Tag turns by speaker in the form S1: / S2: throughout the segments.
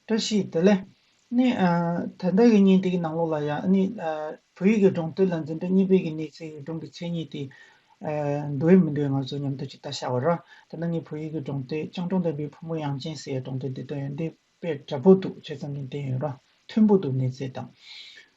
S1: བཀྲ་ཤིས་བདེ་ལེགས། ནི། ད་ལྟ་ཡི་ཉིན་དེ་གི་ནང་ལོགས་ལ་ཡང་ནི། བོད་ཡིག་གི་སྒྲུང་དེབ་ལ་འཛིན་གྲྭ་གཉིས་པའི་གི་གནས་ཚེ་ཡི་སྒྲུང་གི་མཚན་ཉིད་དེ། འདོད་མི་འདོད་ང་ཚོ་མཉམ་དུ་ཅིག་ལྟ་ཤ་བ་ར། ད་ནི་ངའི་བོད་ཡིག་གི་སྒྲུང་དེབ་སྤྱང་གྲུང་ལྡན་པའི་བུ་མོ་དབྱངས་ཅན་ཟེར་ཡའི་སྒྲུང་དེབ་འདི་དོན་ཡོད་འདི་དཔེ་དྲ་པོ་འདུག་བྱས་ཙམ་གྱིས་བསྟན་ཡོད་ར། མཐོན་པོ་འདུག་གནས་ཚད་དང།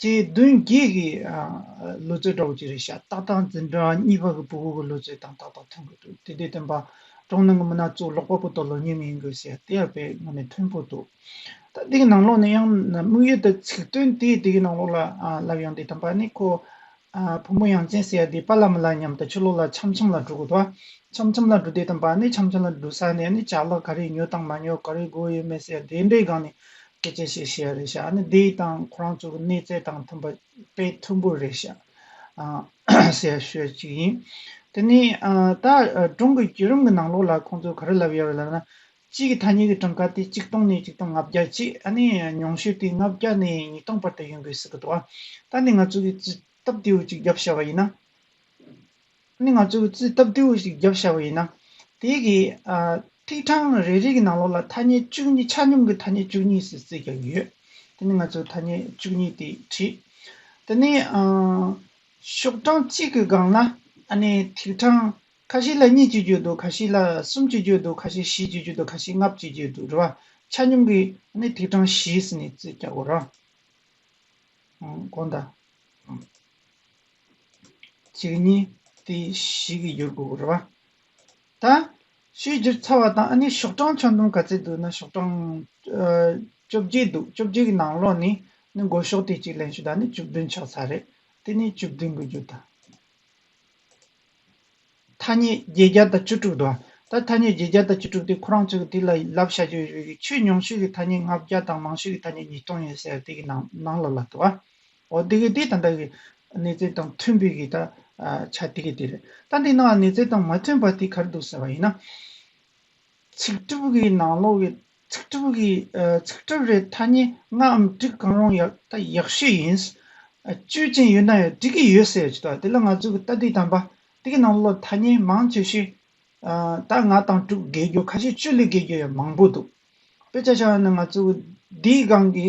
S1: ཅེས་བདུན་བརྒྱད་ཀྱི་ལོ་ཙཱའི་སྒྲོག་ཅེས་རེ་བྱ་སྟག་དང་འཛིན་གྲྭ་གཉིས་པ་གི་བུ་གུ་གི་ལོ་ཙཱའི་དང་ཏག་ཏག་ཐོན་གྱི་འདུག་དེ་དུས་སྟོན་པ་གྲོང་ནང་གི་མི་སྣ་གཙོ་ལོག་པ་པོ་དང་ལོ་ཉེས་ངན་ཡིན་དགོས་ཟེར་ཡ་དེ་ཡང་པའི་ངོས་ནས་མཐུན་པོ་འདུག་ད་དེ་གི་ནང་ལོག་ནས་ཡང་ན་དམིགས་ཡུལ་དང་ཚིག་དོན་དེས་དེ་གི་ནང་ལོག་ལ་ལབ་ཡང་དེ་དམ་པ་ནི་ཁོ་བུ་མོ་ཡང་ཅན་ཟེར་ཡ་དེ་པ་ལ་མི་ལ་ཉམས་དང་ཆུ་ལོག་ལ་འཆམ་འཆམ་ལ་འགྲོ་དགོས་ད་འཆམ་འཆམ་ལ་འགྲོ་དེ་དམ་པ་ནི་འཆམ་འཆམ་ལ་འགྲོ་ས་ནས་ནི་བྱ་གླག་ག་རེ་ཉོས་དང་མ་ཉོས་ག་རེ་དགོས་ཡོད་མེད་ཟེར་དེ་འདྲའི་སྒང་ནས་ཁྱེད་ཀྱིས་ཤེས་བྱའི་རེ་བཞག་ནི་འདི་ཡི་དང་ཁོ་རང་ཚོ་གི་གནས་ཚད་དང་མཐུན་པ་དཔེ་མཐོན་པོའི་རེ་བཞག་ཟེར་ཤོས་གཅིག་ཡིན། དེ་ནི་ད་སྒྲུང་གི་བརྒྱུད་རིམ་གྱི་ནང་ལོགས་ལ་ཁོང་ཚོས་ག་རེ་ལབ་ཡོད་རེད་ལབ་ན། གཅིག་གི་ཐ་སྙད་ཀྱི་གྲངས་ཀ་དེ་གཅིག་སྟོང་ནས་གཅིག་སྟོང་ལྔ་བརྒྱ་གཅིག་ཨ་ནི་ཉུང་ཤོས་དེ་ལྔ་བརྒྱ་ནས་ཉིས་སྟོང་བར་དུ་ཡོང་དགོས་སྲིད་ཀྱི་འདུག་ཨ། ད་ནི་ང་ཚོ་གིས་སྟབས་བདེའི་དབུས་གཅིག་རྒྱབ་བྱ་བ་ཡིན་ན། ནི་ང་ཚོས་རྩིས་སྟབས་བདེ་བོ་ཞིག་བརྒྱབ་བཞག་པ་ཡིན་ན། དེ་གི་ཐིག་གྲངས་རེ་རེ་གི་ནང་ལོགས་ལ་ཐ་སྙད་བཅུ་གཉིས་ཆ་སྙོམས་ཀྱི་ཐ་སྙད་བཅུ་གཉིས་སུ་བརྩིས་བརྒྱབ་ཡོད། དེ་ནི་ང་ཚོས་ཐ་སྙད་བཅུ་གཉིས་དེ་བྲིས། དེ་ནི་ཤོག་གྲངས་གཅིག་གི་སྒང་ལ་ནི་ཐིག་གྲངས་ཁ་ཤས་ལ་གཉིས་བཅུ་བརྒྱུད་འདུག་ཁ་ཤས་ལ་གསུམ་བཅུ་བརྒྱུད་འདུག་ཁ་ཤས་བཞི་བཅུ་བརྒྱུད་འདུག་ཁ་ཤས་ལྔ་བཅུ་བརྒྱུད་འདུག་རེད་བ། ཆ་སྙོམས་ཀྱི་ནི་ཐིག་གྲངས་བཞི་སུ་ནི་བརྩིས་བརྒྱག་གོ་རོགས། གོང་དང། གཅིག་གཉིས་དེ་ཞིག་གི་འགྱུར་དགོས་རེད་བ། ད། ཆོས་བསྒྱུར་ཚར་བ་དང་ཨ་ནི་ཤོག་གྲངས་ཆ་འདོམས་ག་ཚད་འདུག་ན་ཤོག་གྲངས། བཅོ་བརྒྱད་འདུག་བཅོ་བརྒྱད་ཀྱི་ནང་ལོགས་ནས་ནི་མགོ་ཤོག་དེ་གཅིག་ལེན་ཞུ་ད་ནི་བཅུ་བདུན་ཆགས་ཚར་རེད་དེ་ནི་བཅུ་བདུན་དགོས་རྒྱུ་དང། ཐ་སྙད་བརྒྱད་བརྒྱ་དང་བཅུ་དྲུག་འདུག་བ། ད་ཐ་སྙད་བརྒྱད་བརྒྱ་དང་བཅུ་དྲུག་དེ་ཁོ་རང་ཚོས་ཀྱི་དེ་ལ་ལབ་བྱ་རྒྱུ་རེད་ཆོས་ཉུང་ཤོས་ཀྱི་ཐ་སྙད་ལྔ་བརྒྱ་དང་མང་ཤོས་ཀྱི་ཐ་སྙད་ཉིས་སྟོང་ཡོད་ཟེར་དེ་གི་ནང་ལོགས་ལ་དུ་བ། ཨོ་དེ་གི་དེ་ད་ལྟ་གི་གནས་ཚད་དང་མཐུན་པའི་གི་ད་ཆ་དེ་གི་དེ་རེད། ད་འདི་ནང་གནས་ཚད་དང་མ་མཐུན་པ་དེ་གར་འདུག་ཟེར་བ་ཡིན་ན། ཚིག་གྲུབ་གི་ནང་ལོག་གི་ཚིག་གྲུབ་གི་ཚིག་གྲུབ་རེད་ཐ་སྙད་ལྔའམ་དྲུག་གང་རུང་ཡག་ད་ཡག་ཤོས་ཡིན། དཔྱོད་ཅན་ཡོད་ན་ཡང་འགྲིག་གི་ཡོད་ཟེར་ཅི་ཐོག་དེ་ལ་ང་ཚོ་གི་ད་དེ་དམ་པ་དེ་གི་ནང་ལོག་ཐ་སྙད་མང་ཆེ་ཤོས་ད་ལྔ་དང་དྲུག་བརྒལ་རྒྱུ་ཁ་ཤས་བཅུ་ལས་བརྒལ་རྒྱུ་ཡང་མང་པོ་འདུག་དཔེ་ཆ་ཆ་ཡང་ན་ང་ཚོ་གི་འདིའི་སྒང་གི་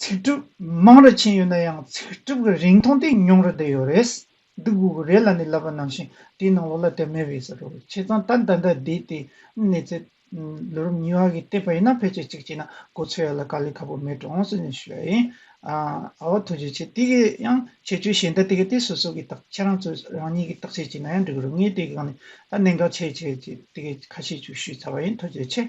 S1: ཚིག་གྲུབ་མང་རུ་ཕྱིན་ཡོད་ན་ཡང་ཚིག་གྲུབ་ཀྱི་རིང་ཐུང་དེ་ཉུང་རུ་བསྡད་ཡོད་རེད། འདི་དགོས་ཀྱི་རེད་ལ་ནི་ལབ་པ་ནང་བཞིན་དེའི་ནང་ལོགས་ལ་དེ་མེད་པའི་ཟེར་རོ། ཁྱེད་ཚང་ད་ལྟ་འདི་བསྡད་དེ་གནས་ཚེ། ལོ་རབས་གཉིས་བ་གི་སྟེགས་པ་ཡིན་ན་ཕལ་ཆེར་གཅིག་བྱས་ན་གོ་ཚོད་ཡོད་ལ་དཀའ་ལས་ཁ་པོ་མེད་འགྲོ་འོང་སྲིད་ནས་ཞུ་ཡ་ཡིན། ཨ་བ་ཐུགས་རྗེ་ཆེ་དེ་གའི་ཡང་ཁྱད་ཆོས་གཞན་དག་དེ་གའི་དེ་སོ་སོ་གི་དག་ཁྱེད་རང་ཚོས་རང་ཉིད་ཀྱི་དག་བྱེད་བྱས་ན་ཡང་འགྲིག་གི་རེད་ངས་དེ་གའི་སྒང་ནས་ད་གནད་འགག་ཆེ་ཆེ་ཅེས་དེ་གའི་ཁ་ཤས་ཅིག་ཞུས་ཚར་བ་ཡིན་ཐུགས་རྗེ་ཆེ།